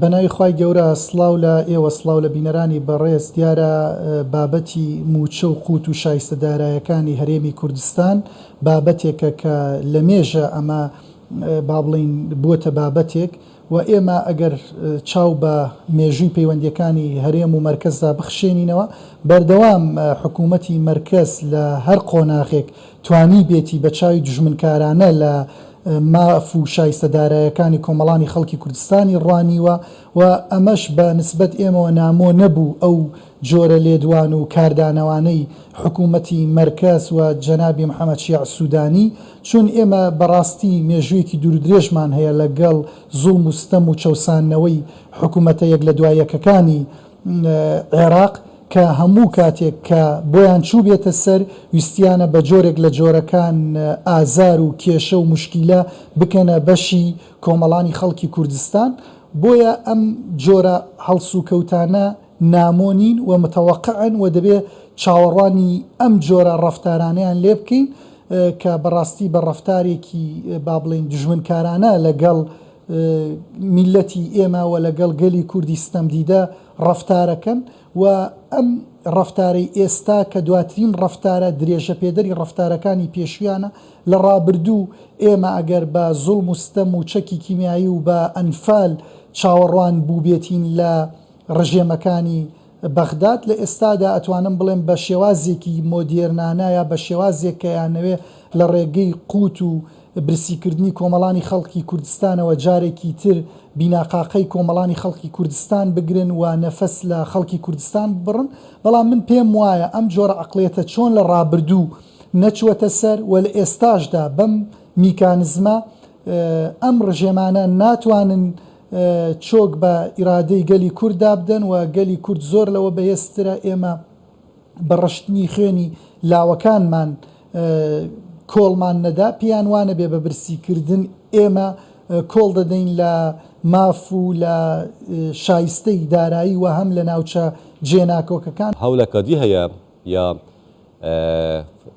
بەناوی خوای گەورە سڵاو لە ئێوە سڵاو لە بینەرانی بەڕێز دیارە بابەتی مووچە و قووت و شایستە دارایەکانی هەرێمی کوردستان بابەتێکە کە لە مێژە ئەمە با بڵین بووەتە بابەتێک و ئێمە ئەگەر چاو بە مێژووی پەیوەندیەکانی هەرێم و مەرکەزدا بخشێنینەوە بەردەوام حکوومەتی مەرکەز لە هەر قۆناغێک توانیبێتی بە چاوی دوژمنکارانە لە ماف و شایستە دارایەکانی کۆمەڵانی خەڵکی کوردستانی ڕوانیوە و ئەمەش بە نسبەت ئێمەوە نامۆ نەبوو ئەو جۆرە لێدوان و کاردانەوانەی حکوومەتی مەرکەز و جەنابی محەمەد شیاع سوودانی چون ئێمە بە ڕاستی مێژوویەکی دوور و درێژمان هەیە لە گەڵ زوڵم و ستەم و چەوساندنەوەی حکوومەتە یەک لە دوای یەکەکانی عێراق کە هەموو کاتێک کە بۆیان چووبێتە سەر ویستیانە بە جۆرێک لە جۆرەکان ئازار و کێشە و موشکیلە بکەنە بەشی کۆمەڵانی خەڵکی کوردستان بۆیە ئەم جۆرە هەڵسوکەوتانە نامۆ نین و متوقعن و دەبێ چاوەڕوانی ئەم جۆرە ڕەفتارانەیان لێ بکەین کە بەڕاستی بە ڕەفتارێکی با بڵێین دوژمنکارانە لە گەڵ میللەتی ئێمە و لەگەڵ گەلی کوردی ستەمدیدە ڕەفتارەکەن و ئەم ڕەفتارەی ئێستا کە دواترین ڕەفتارە درێژەپێدەری ڕەفتارەکانی پێشویانە لە ڕابردوو ئێمە ئەگەر بە زوڵم و ستەم و چەکی کیمیایی و بە ئەنفال چاوەڕوان بوبێتین لە ڕژێمەکانی بەغداد لە ئێستادا ئەتوانم بڵێم بە شێوازێکی مۆدێرنانە یا بە شێوازێک کە یانەوێ لە ڕێگەی قووت و برسی کردنی کۆمەڵانی خەڵکی کوردستانەوە جارێکی تر بیناقاقەی کۆمەڵانی خەڵکی کوردستان بگرن و نەفەس لە خەڵکی کوردستان ببڕن بەڵام من پێم وایە ئەم جۆرە عەقڵیەتە چۆن لە ڕابردوو نەچووەتە سەر و لە ئێستاشدا بەم میکانزمە ئەم ڕژێمانە ناتوانن چۆک بە ئیرادەی گەلی کورد دابدەن و گەلی کورد زۆر لەوە بەهێزترە، ئێمە بە ڕشتنی خوێنی لاوەکانمان کۆڵمان نەدا، پێیان وانەبێ بە برسی کردن ئێمە کۆڵ دەدەین لە ماف و لە شایستەی دارایی و هەم لە ناوچە جێناکۆکەکان. هەولە کە دی هە یە یا.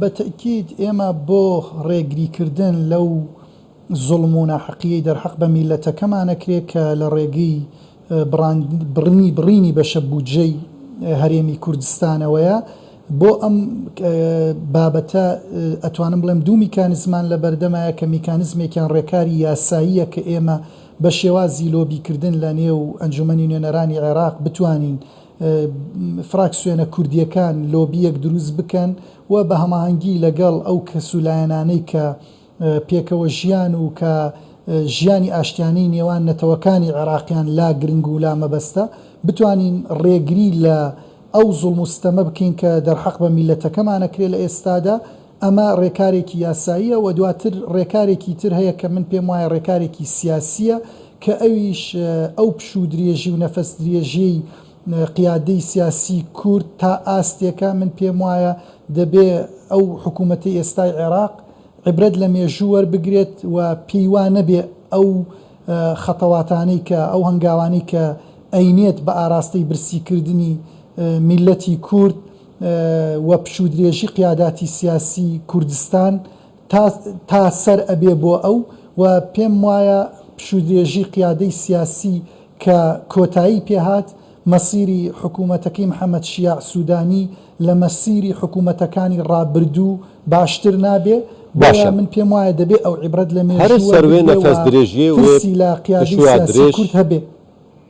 بە تەئکید ئێمە بۆ ڕێگری کردن لەو زوڵم و ناحەقیەی دەرحەق بە میللەتەکەمان ئەکرێ کە لە ڕێگەی بڕنی بڕینی بەشە بودجەی هەرێمی کوردستانەوەیە بۆ ئەم بابەتە ئەتوانم بڵێم دوو میکانزمان لە بەردەمایە کە میکانزمێکیان ڕێکاری یاساییە کە ئێمە بە شێوازی لۆبی کردن لە نێو ئەنجومەنی نوێنەرانی عێراق بتوانین فراکسیۆنە کوردییەکان لۆبییەک دروست بکەن و بە هەماهەنگی لەگەڵ ئەو کەس و لایەنانەی کە پێکەوە ژیان و کە ژیانی ئاشتیانەی نێوان نەتەوەکانی عێراقیان لا گرنگ و لا مەبەستە بتوانین ڕێگری لە ئەو زوڵم و ستەمە بکەین کە دەرحەق بە میللەتەکەمان ئەکرێ لە ئێستادا. ئەمە رێکارێکی یاساییە و دواتر رێکارێکی تر هەیە کە من پێم وایە رێکارێکی سیاسییە کە ئەویش ئەو پشوو درێژی و نەفەس درێژیی قیادەی سیاسی کورد تا ئاستێکە من پێم وایە دەبێ ئەو حکوومەتەی ئێستای عێراق عیبرەت لە مێژوو وەربگرێت و پێی وا نەبێ ئەو خەتەواتانەی کە ئەو هەنگاوانەی کە ئەینێت بە ئاراستەی برسی کردنی میللەتی کورد وە پشوودرێژی قیاداتی سیاسی کوردستان تا تا سەر ئەبێ بۆ ئەو وە پێم وایە پشوودرێژی قیادەی سیاسی کە کۆتایی پێ هات مەسیری حکوومەتەکەی محەمەد شیاع سوودانی لە مەسیری حکوومەتەکانی ڕابردوو باشتر نابێ بۆیە من پێم وایە دەبێ ئەو عیبرەت لە مێژوو وەربگرێ وە ترسی لە قیادەی سیاسی کورد هەبێ.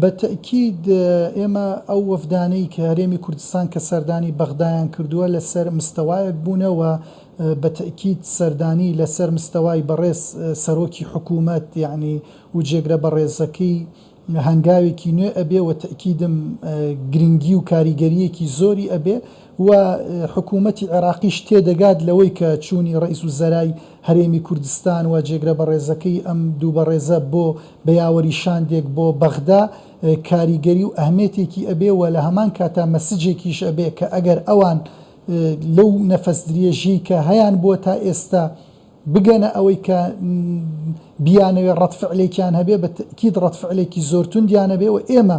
بە تەئکید ئێمە ئەو وەفدانەی کە هەرێمی کوردستان کە سەردانی بەغدایان کردووە لە سەر مستەوایەک بوونە و بە تەئکید سەردانی لە سەر مستەوای بەڕێز سەرۆکی حکوومەت یەعنی و جێگرە بەڕێزەکەی هەنگاوێکی نوێ ئەبێ و تەئکیدم گرینگی و کاریگەرییەکی زۆری ئەبێ و حکوومەتی عێراقیش تێدەگات لەوەی کە چوونی رەئیسوزەرای هەرێمی کوردستان و جێگرە بەڕێزەکەی ئەم دوو بەڕێزە بۆ بە یاوەری شاندێک بۆ بەغدا کاریگەری و ئەهمێتێکی ئەبێ و لە هەمان کاتا مەسجێکیش ئەبێ کە ئەگەر ئەوان لەو نەفەس دریێژیەی کە هەیانبووە تا ئێستا بگەنە ئەوەی کە بیانەوێ ڕەد فعلێکیان هەبێ بە تەئکید ڕەد فعلێکی زۆر توندیان هەبێ و ئێمە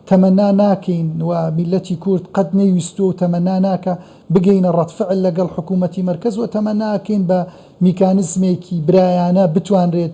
تەمەنا ناکەین و میللەتی کورد قەت نەیویستووە و تەمەنا ناکا بگەینە ڕەد فعل لەگەڵ حکوومەتی مەرکەز و تەمەنا ئەکەین بە میکانزمێکی برایانە بتوانرێت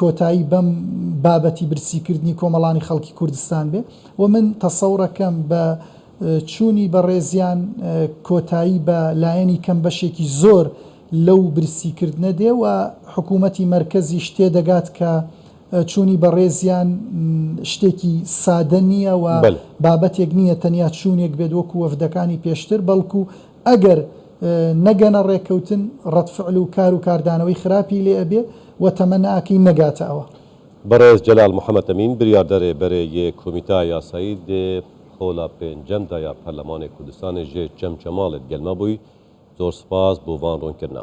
کۆتایی بەم بابەتی برسی کردنی کۆمەڵانی خەڵکی کوردستان بێ و من تەسەوڕەکەم بە چوونی بەڕێزیان کۆتایی بە لایەنی کەم بەشێکی زۆر لەو برسی کردنە دێ و حکوومەتی مەرکەزیش تێ دەگات کە چوونی بەڕێزیان شتێکی سادە نییە و بابەتێک نییە تەنیا چوونێک بێت وەکوو وەفدەکانی پێشتر بەڵکوو ئەگەر نەگەنە ڕێککەوتن ڕەد فعل و کار و کاردانەوەی خراپی لێ ئەبێ و تەمە ناکەی نەگاتە ئەوە. بەڕێز جەلال محەمەد ئەمین بریاردەرێ بەرێ یێ کومیتا یاسایی دێ خۆلا پێنجەم دا یا پەرلەمانێ کوردستانێ ژێ چەم چەماڵێد گەلمە بوی زۆر سپاس بۆ ڤان ڕوونکردنە.